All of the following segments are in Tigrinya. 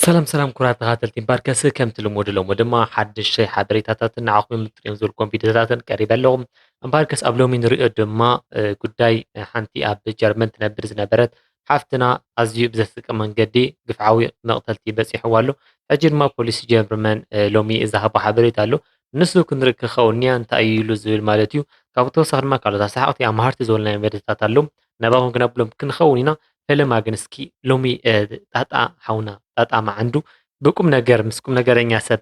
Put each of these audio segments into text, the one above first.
ሰላም ሰላም ኩራት ተኻተልቲ ባርከስ ከምቲ ልሙድ ሎሚ ድማ ሓድሽ ሓበሬታታትን ንዓኹም የምጥጥዮም ዝበልኩም ቪድዮታትን ቀሪበ ኣለኹ እምበርከስ ኣብ ሎሚ ንሪኦ ድማ ጉዳይ ሓንቲ ኣብ ጀርመን ትነብር ዝነበረት ሓፍትና ኣዝዩ ብዘስቀ መንገዲ ግፍዓዊ መቕተልቲ በፂሕዋ ኣሎ ሕጂ ድማ ፖሊስ ጀርመን ሎሚ ዝሃቦ ሓበሬታ ኣሎ ንሱ ክንርኢ ክኸውን እያ እንታይ እዩ ኢሉ ዝብል ማለት እዩ ካብኡ ተወሳኺ ድማ ካልኦት ኣሰሓቕቲ ኣምሃርቲ ዝበልናዮ መደታት ኣሎ ናባኹም ክነብሎም ክንኸውን ኢና ፈለማ ግን እስኪ ሎሚ ጣጣ ሓውና ጣጣ መዓንዱ ብቁም ነገር ምስ ቁም ነገረኛ ሰብ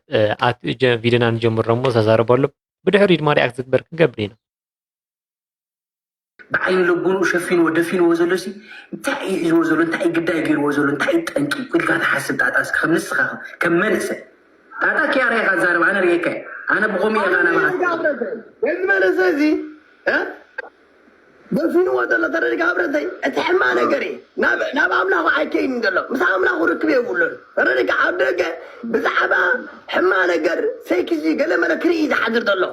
ቪድዮና ንጀምሮ እሞ ተዛረበሉ ብድሕሪ ድማ ሪኣክት ዝግበር ክንገብር ኢና ብዓይኒ ልቡኑ ሸፊንዎ ደፊንዎ ዘሎ ሲ እንታይ እዩ ሒዝዎ ዘሎ እንታይ እዩ ግዳይ ገይርዎ ዘሎ እንታይ እዩ ጠንቂ ኢልካ ትሓስብ ጣጣ እስኪ ከም ንስኻ ከም መንእሰይ ጣጣ ኪያ ርኢኻ ዛረብ ኣነ ርኤካ ኣነ ብኸምኡ ኢኻ ናባኻ መንእሰይ እዚ ደፊንዎ ዘሎ ተረዲእካ ብረተይ እቲ ሕማቅ ነገር እዩ ናብ ናብ ኣምላኹ ኣይከይድን ዘሎ ምስ ኣምላኹ ርክብ የብሉን ተረዲእካ ኣብ ደገ ብዛዕባ ሕማቅ ነገር ሰይኪዚ ገለ መለ ክርኢ እዩ ዝሓድር ዘሎ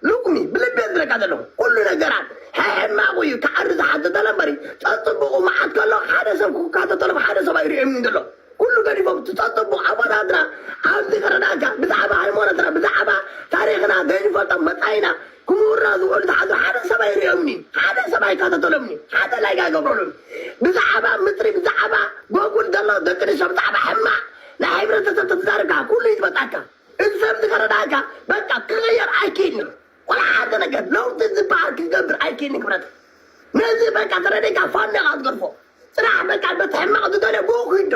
ሉቅሚ ብልቢ እየ ዝብለካ ዘለኹ ኩሉ ነገራት ሕሕማቁ እዩ ክዓሪ ዝሓድር ዘሎ እምበሪ ጸጽቡቁ መዓት ከሎ ሓደ ሰብ ክካተተሎም ሓደ ሰብ ኣይርእዮምን ዘሎ ኩሉ ገዲፎም እቲ ጸጽቡቅ ኣቦታትና ኣብዚ ክረዳእካ ብዛዕባ ሃይማኖትና ብዛዕባ ታሪኽና ዘይንፈልጦም መጻኢና ክምሁርና ዝኾኑ ተሓቱ ሓደ ሰብ ኣይርእዮምንዩ ሓደ ሰብ ኣይካተተሎምንዩ ሓደ ላይክ ኣይገብረሉን ብዛዓባ ምጥሪ ብዛዓባ ጎጉል ዘሎ ደቅንስትዮ ብዛዕባ ሕማቅ ናይ ሕብረተሰብ ተትዛረብ ካኣ ኩሉ ይዝበጣካ እዚ ሰብ እዚ ከረዳኣካ በቃ ክቅየር ኣይክእልንዩ ወላ ሓደ ነገር ለውጢ ዝባሃል ክትገብር ኣይክእልንዩ ክብረተይ ነዚ በቃ ተረዲእካ ፋኖ ኢኻ ዝገድፎ ጽናሕ በቃ በቲ ሕማቅ ዝደልዮ ብኡ ክይዶ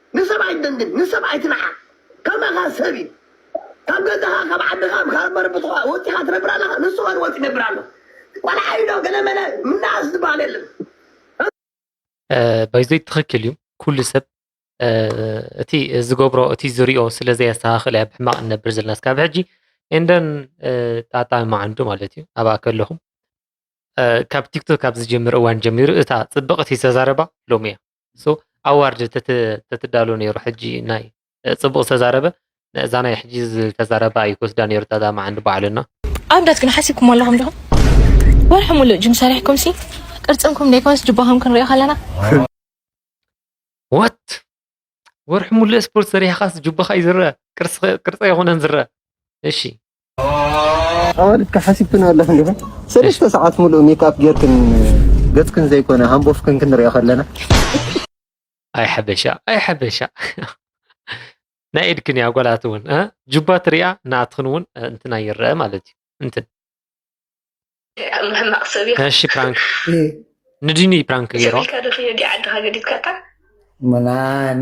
ንሰብ ኣይትደንግጽ ንሰብ ኣይትንዓቅ ከማካ ሰብ እዩ ካብ ገዛካ ካብ ዓድካ ካብ መረበትካ ወጺካ ትነብር ኣለካ ንሱ ከ ወጺ ይነብር ኣሎ ቆልዓ እዩ ዶ ገለ መለ ምናኣስ ዝበሃል የለን ባይዘይ ትክክል እዩ ኩሉ ሰብ እቲ ዝገብሮ እቲ ዝሪኦ ስለ ዘየስተካክል እያ ብሕማቅ ንነብር ዘለና ስካብ ሕጂ እንደን ጣጣ ማዓንዱ ማለት እዩ ኣብኣ ከለኹም ካብ ቲክቶክ ካብ ዝጀምር እዋን ጀሚሩ እታ ፅብቕቲ ዝተዛረባ ሎሚ እያ ንሱ ኣዋርድ ተትዳሉ ነይሩ ሕጂ ናይ ጽቡቅ ዝተዛረበ እዛ ናይ ሕጂ ዝተዛረባ እዩ ክወስዳ ነይሩ ታዛ መዓንዲ ባዕሉ እና ኣብዳት ግን ሓሲብኩም ኣለኹም ዶ ወርሒ ሙሉእ ጅም ሰሪሕኩም ሲ ቅርጽንኩም ዘይኮንስ ጅባኹም ክንሪኦ ከለና ወት ወርሒ ሙሉእ ስፖርት ሰሪሕኻስ ጅባኻ እዩ ዝረአ ቅርጺ ኣይኮነን ዝረአ እሺ ኣዋልድ ክሓሲብክን ኣለኽን ዲኹን ሰለስተ ሰዓት ሙሉእ ሜክኣፕ ጌርክን ገጽክን ዘይኮነ ሃምቦፍክን ክንሪኦ ከለና ኣይ ሓበሻ ኣይ ሓበሻ ናይ ኢድክን እያ ጓላት እውን ጁባ ትሪያ ናትኽን እውን እንትና ይረአ ማለት እዩ እንትን እሺ ፕራንክ ንድኒ ፕራንክ ገይሮ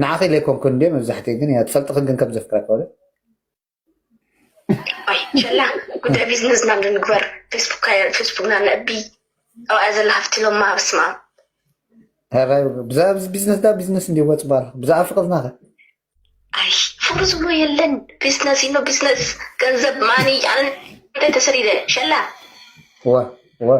ንዓኺ ኢለ ኣይኮንኩን እንዲ መብዛሕትኡ ግን እያ ትፈልጥኽን ግን ከም ዘፍቅረካ ኣይ ሸላ ጉዳይ ቢዝነስ ናብ ንግበር ፌስቡክ ፌስቡክና ነእቢ ኣብኣ ዘላ ሃፍቲ ሎማ ብስማ ብዛዕባ ቢዝነስ ዳ ቢዝነስ እንዲ ወፅ ባር ብዛዕባ ፍቅርና ከ ኣይ ፍቅሪ ዝብሎ የለን ቢዝነስ ኢኖ ቢዝነስ ገንዘብ ማኒ ኣነ እንታይ ተሰሪደ ሸላ ወ ወ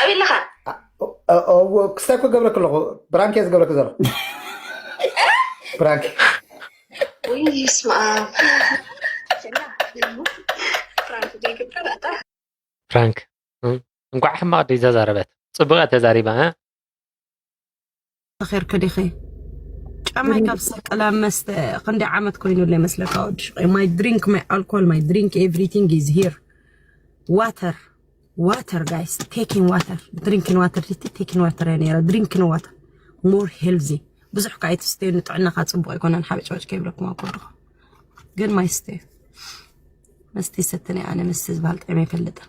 ኣብይ ኣለኻ ክስታይ እኮ ገብረክ ኣለኹ ብራንክ እየ ዝገብረክ ዘሎ ብራንክ ወይ ስማ ፍራንክ እንኳዕ ሕማቕ ድዩ ዘዛረበት ፅቡቕ እያ ተዛሪባ ተኸርኪ ዲኺ ጫማይ ካብ ሰቅል ኣብ መስተ ክንደይ ዓመት ኮይኑ ኣሎ ይመስለካ ወዲ ሽቀይ ማይ ድሪንክ ማይ ኣልኮል ማይ ድሪንክ ኤቭሪቲንግ ኢዝ ሂር ዋተር ዋተር ጋይስ ቴኪን ዋተር ድሪንኪን ዋተር ዲቲ ቴኪን ዋተር እየ ነረ ድሪንኪን ዋተር ሞር ሄልዚ ብዙሕ ከዓ ኣይትስተዩ ንጥዕናኻ ፅቡቅ ኣይኮነን ሓበጭበጭ ከይብለኩም ኣብ ኮድኹ ግን ማይ ስተዩ መስተ ይሰትነ ኣነ መስተ ዝበሃል ጥዕመ ይፈልጥን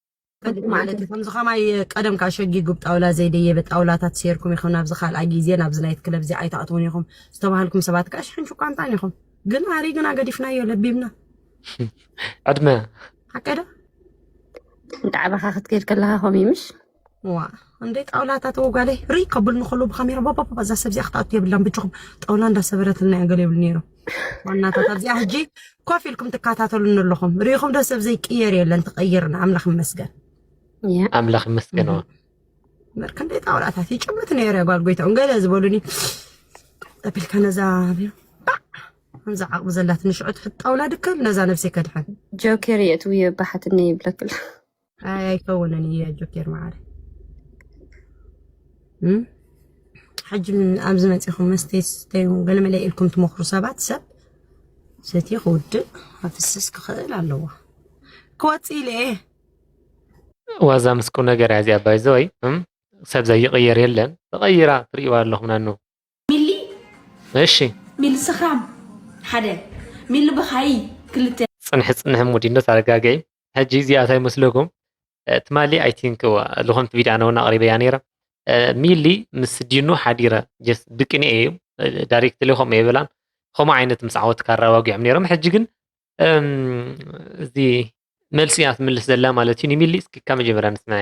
ጽቡቅ ማለት እዩ ከምዚ ከማይ ቀደምካ ሸጊጉብ ጣውላ ዘይደየበ ጣውላታት ሴርኩም ኢኩም ናብዚ ካልኣ ግዜ ናብዚ ናይት ክለብ እዚ ኣይትኣትውን ኢኩም ዝተባሃልኩም ሰባት ከኣ ሽሕን ሽቋንጣን ኢኩም ግን ኣሪ ግና ገዲፍናዮ ለቢብና ዕድመ ሓቀ ዶ ዳዕባኻ ክትከይድ ከለካ ከምኡ ምሽ ዋ እንዴ ጣውላታት ወጓለይ ሪ ከብልኒ ከሉ ብካሜራ ባባባ እዛ ሰብ እዚኣ ክትኣቱ የብላን ብጅኹም ጣውላ እንዳሰበረትልና እያ ገለ ይብሉ ነይሮም ዋናታት ኣብዚኣ ሕጂ ኮፍ ኢልኩም ትከታተሉኒ ኣለኹም ርኢኹም ዶ ሰብ ዘይቅየር የለን ተቐይርና ኣምላኽ ይመስገን ኣምላኽ ይመስገን ክንደይ ጣውላታት ይጭምት ነይረ ጓል ጎይታኡ ገለ ዝበሉኒ ጠቢልካ ነዛ ከምዚ ዓቕሚ ዘላትኒ ሽዑ ትሕጣውላ ድክም ነዛ ነብሰይ ከድሕን ጆኬር የእትውዮ ባሓትኒ ይብለክላ ኣይ ኣይከውንን እዩ ጆኬር መዓረ ሕጂ ኣብዚ መፂኹም መስተይ ስተዩ ገለ መለ ኢልኩም ትመኽሩ ሰባት ሰብ ሰትየ ክውድእ ኣፍስስ ክኽእል ኣለዎ ክወፅእ ኢለ እየ ዋዛ ምስ ቁም ነገር እያ እዚኣ ባይዘ ወይ ሰብ ዘይቕየር የለን ተቐይራ ትርእይዋ ኣለኹም ናኑ ሚሊ እሺ ሚሊ ስኽራም ሓደ ሚሊ በኻይ ክልተ ፅንሒ ፅንሒ ሙዲኖት ኣረጋገዒ ሕጂ እዚኣ እንታይ መስለኩም ትማሊ ኣይ ቲንክ ዝኾነት ቪድዮ ኣነ እውን ኣቕሪበያ ነይረ ሚሊ ምስ ዲኑ ሓዲረ ጀስ ብቅንኤ እዩ ዳይሬክትሊ ከምኡ የበላን ከምኡ ዓይነት ምስ ዓወት ካራ ዋጊዖም ነይሮም ሕጂ ግን እዚ መልሲ እያ ትምልስ ዘላ ማለት እዩ ንሚሊ እስኪ ካብ መጀመርያ ንስምዐ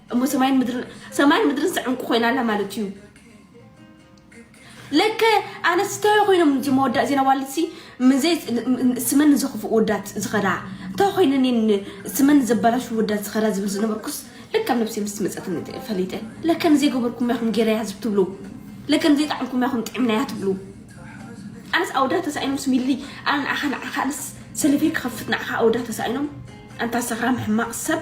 እሞ ሰማይን ምድርን ሰማይን ምድርን ስዕንቁ ኮይና ኣላ ማለት እዩ ለከ ኣነስተዮ ኮይኖም እዚ መወዳእ ዜና ዋልሲ ምዘይ ስመን ንዘኽፉ ወዳት ዝኸዳ እንታይ ኮይነን ስመን ዘበላሹ ወዳት ዝኸዳ ዝብል ዝነበርኩስ ለካ ኣብ ነብሲ ምስ መፀት ፈሊጠ ለከ ንዘይገበርኩም ያኹም ጌረያ ህዝብ ትብሉ ለከ ንዘይጣዕምኩም ያኹም ጥዕምናያ ትብሉ ኣነስ ኣውዳ ተሳኢኖም ስሚሊ ኣነ ንዓኻ ንዓኻ ኣነስ ሰለፊ ክኸፍት ንዓኻ ኣውዳ ተሳኢኖም ኣንታ ሰኽራም ሕማቕ ሰብ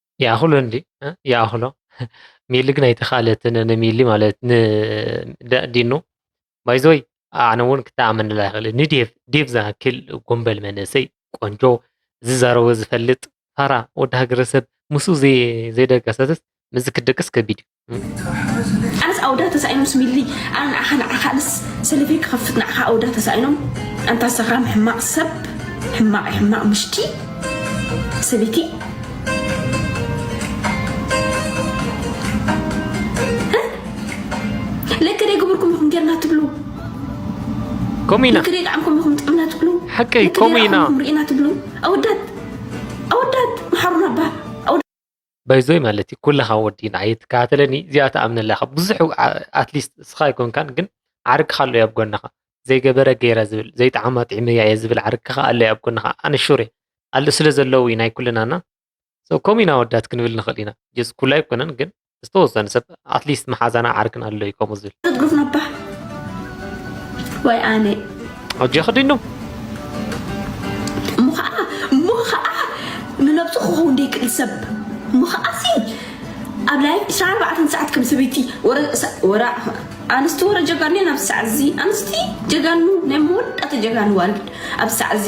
ይኣኽሎ እንዲ ይኣኽሎ ሚሊ ግን ኣይተኻለት ንሚሊ ማለት ንዲኑ ባይዘወይ ኣነ እውን ክተኣመንላ ይኽእል ንዴቭ ዴቭ ዝኣክል ጎንበል መንእሰይ ቆንጆ ዝዛረቦ ዝፈልጥ ፋራ ወዲ ሃገረሰብ ምስ ዘይደቀሰትስ ምዝ ክደቅስ ከቢድ እዩ ኣነስ ኣውዳ ተሳኢኖም ስሚሊ ኣነ ንዓኻ ንዓኻ ኣነስ ሰለፊ ክኸፍት ንዓኻ ኣውዳ ተሳኢኖም ኣንታ ሰኽራም ሕማቕ ሰብ ሕማቕ ሕማቕ ምሽቲ ሰበይቲ ከምኡ ኢና ክሪኢ ጣዕምኩም ኢኹም ጥዕምና ትብሉ ሓቂ ከምኡ ኢና ርኢና ትብሉ ኣወዳት ኣወዳት መሓሩና ባ ባይዘወይ ማለት እዩ ኩለኻ ወዲ ንዓይ ትከታተለኒ እዚኣ ትኣምነላ ኢኻ ብዙሕ ኣትሊስት እስኻ ኣይኮንካን ግን ዓርክኻ ኣሎ ኣብ ጎንኻ ዘይገበረ ገይረ ዝብል ዘይጠዓማ ጥዒመያ እየ ዝብል ዓርክኻ ኣሎ ኣብ ጎንኻ ኣነ ሹር እየ ኣለ ስለ ዘለዉ እዩ ናይ ኩልናና ከምኡ ኢና ወዳት ክንብል ንኽእል ኢና ጀስ ኩሉ ኣይኮነን ግን ዝተወሰነ ሰብ ኣትሊስት መሓዛና ዓርክን ኣሎ እዩ ከምኡ ዝብል ትግፍ ነባ ወይ ኣነ ሕጂ ክድኑ እሞ ከዓ እሞ ከዓ ንነብሱ ክኸውን ደይክእል ሰብ እሞ ከዓ ሲ ኣብ ላይ ዕስራ ኣርባዕተ ሰዓት ከም ሰበይቲ ወረ ኣንስቲ ወረ ጀጋኑ ናብ ሰዓት እዚ ኣንስቲ ጀጋኑ ናይ መወዳእታ ጀጋኑ ዋልድ ኣብ ሰዓት እዚ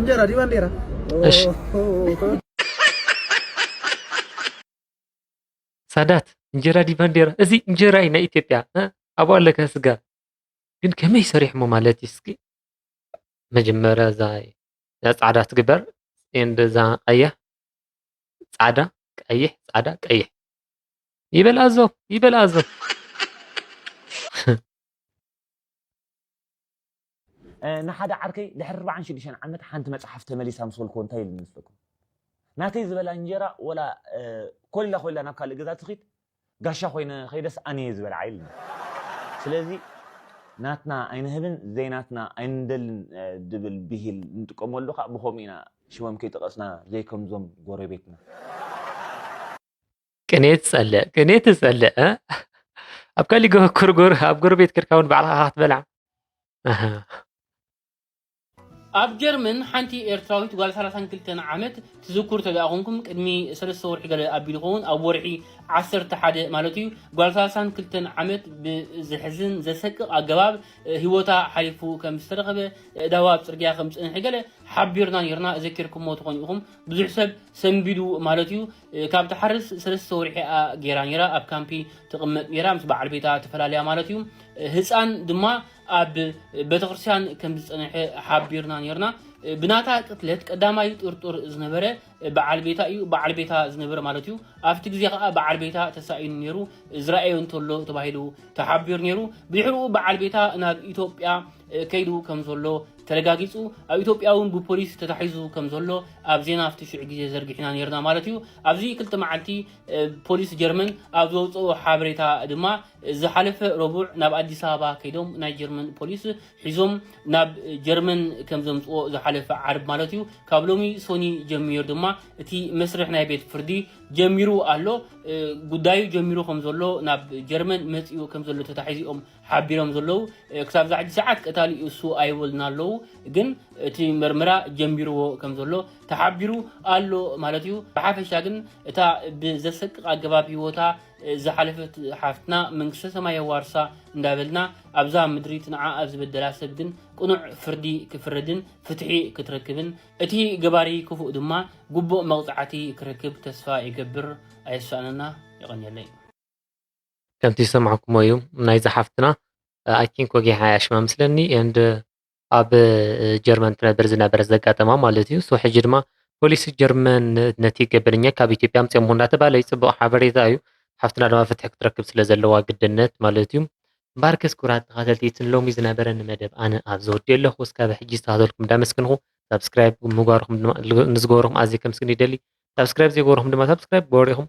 እንጀራ ዲባ እንዴራ እሺ ሳዳት እንጀራ ዲባ እንዴራ እዚ እንጀራ እዩ ናይ ኢትዮጵያ ኣብኡ ኣለካ ስጋ ግን ከመይ ሰሪሕሞ ማለት እዩ እስኪ መጀመርያ እዛ ፃዕዳ ትግበር ኤንድ እዛ ቀያሕ ፃዕዳ ቀይሕ ፃዕዳ ቀይሕ ይበል ኣዞ ይበል ኣዞ ንሓደ ዓርከይ ድሕሪ ኣርባዓን ሽዱሽተን ዓመት ሓንቲ መጽሓፍ ተመሊሳ ምስ በልክዎ እንታይ ኢሉ ይመስለኩም? ናተይ ዝበላ እንጀራ ወላ ኮሊላ ኮሊላ ናብ ካልእ ገዛ ትኺድ ጋሻ ኮይነ ከይደስ ኣነ እየ ዝበልዓ ኢሉኒ። ስለዚ ናትና ኣይንህብን ዘይናትና ኣይንደልን ዝብል ብሂል ንጥቀመሉ ከኣ ብኸምኡ ኢና ሽሞም ከይጠቐስና ዘይከምዞም ጎረቤትና። ቅኔት ጸልእ ቅኔት ትጸልእ ኣብ ካሊእ ኩርጉር ኣብ ጎረቤት ክርካ እውን ባዕልካ ክትበልዓ ኣብ ጀርመን ሓንቲ ኤርትራዊት ጓል 32 ዓመት ትዝክሩ ተደኣ ኮንኩም ቅድሚ ሰለስተ ወርሒ ገለ ኣቢሉ ይኸውን ኣብ ወርሒ 11 ማለት እዩ ጓል 32 ዓመት ብዘሕዝን ዘሰቅቕ ኣገባብ ህይወታ ሓሊፉ ከም ዝተረኸበ እዳዋ ኣብ ፅርግያ ከም ዝፀንሐ ገለ ሓቢርና ነርና ዘኪርኩሞ ትኾኑ ኢኹም ብዙሕ ሰብ ሰንቢዱ ማለት እዩ ካብ ትሓርስ ሰለስተ ወርሒኣ ጌራ ነራ ኣብ ካምፒ ትቕመጥ ነራ ምስ በዓል ቤታ ተፈላለያ ማለት እዩ ህፃን ድማ ኣብ ቤተክርስትያን ከም ዝፀንሐ ሓቢርና ነርና ብናታ ቅትለት ቀዳማይ ጥርጡር ዝነበረ በዓል ቤታ እዩ በዓል ቤታ ዝነበረ ማለት እዩ ኣብቲ ግዜ ከዓ በዓል ቤታ ተሳኢኑ ነይሩ ዝረኣዮ እንተሎ ተባሂሉ ተሓቢሩ ነይሩ ብድሕሪኡ በዓል ቤታ ናብ ኢትዮጵያ ከይዱ ከም ዘሎ ተረጋጊጹ ኣብ ኢትዮጵያ እውን ብፖሊስ ተታሒዙ ከም ዘሎ ኣብ ዜና ኣብቲ ሽዑ ግዜ ዘርጊሕና ነርና ማለት እዩ ኣብዚ ክልተ መዓልቲ ፖሊስ ጀርመን ኣብ ዘውፅኦ ሓበሬታ ድማ ዝሓለፈ ረቡዕ ናብ ኣዲስ ኣበባ ከይዶም ናይ ጀርመን ፖሊስ ሒዞም ናብ ጀርመን ከም ዘምፅኦ ዝሓለፈ ዓርብ ማለት እዩ ካብ ሎሚ ሶኒ ጀሚሩ ድማ እቲ መስርሕ ናይ ቤት ፍርዲ ጀሚሩ ኣሎ ጉዳዩ ጀሚሩ ከም ዘሎ ናብ ጀርመን መፅኡ ከም ዘሎ ተታሒዙ እዮም ሓቢሮም ዘለዉ ክሳብ ዛሕጂ ሰዓት ቀታሊ እሱ ኣይበሉና ኣለዉ ግን እቲ መርምራ ጀምቢርዎ ከም ዘሎ ተሓቢሩ ኣሎ ማለት እዩ ብሓፈሻ ግን እታ ብዘሰቅቕ ኣገባብ ህይወታ ዝሓለፈት ሓፍትና መንግስተ ሰማይ የዋርሳ እንዳበልና ኣብዛ ምድሪ ትንዓ ኣብ ዝበደላ ሰብ ግን ቅኑዕ ፍርዲ ክፍረድን ፍትሒ ክትረክብን እቲ ገባሪ ክፉእ ድማ ጉቡእ መቕጻዕቲ ክረክብ ተስፋ ይገብር ኣየሳእነና የቐንየለይ ከምቲ ዝሰማዕኩሞ እዩ ናይ ዝሓፍትና ኣይ ቲንክ ወጊሓ እያ ሽማ ምስለኒ ንድ ኣብ ጀርመን ትነብር ዝነበረ ዘጋጠማ ማለት እዩ ሶ ሕጂ ድማ ፖሊሲ ጀርመን ነቲ ገበነኛ ካብ ኢትዮጵያ ምፅኦም እንዳተባለ እዩ ፅቡቅ ሓበሬታ እዩ ሓፍትና ድማ ፍትሒ ክትረክብ ስለ ዘለዋ ግድነት ማለት እዩ ባርከስ ኩራት ተኸተልቲ እቲ ሎሚ ዝነበረኒ መደብ ኣነ ኣብ ዘወዲ ኣለኹ እስካብ ሕጂ ዝተኸተልኩም እንዳመስግንኹ ሳብስክራይብ ምግባርኹም ድማ ንዝገበርኹም ኣዝየ ከምስግን ይደሊ ሳብስክራይብ ዘይገበርኹም ድማ ሳብስክራይብ ግበሩ ኢኹም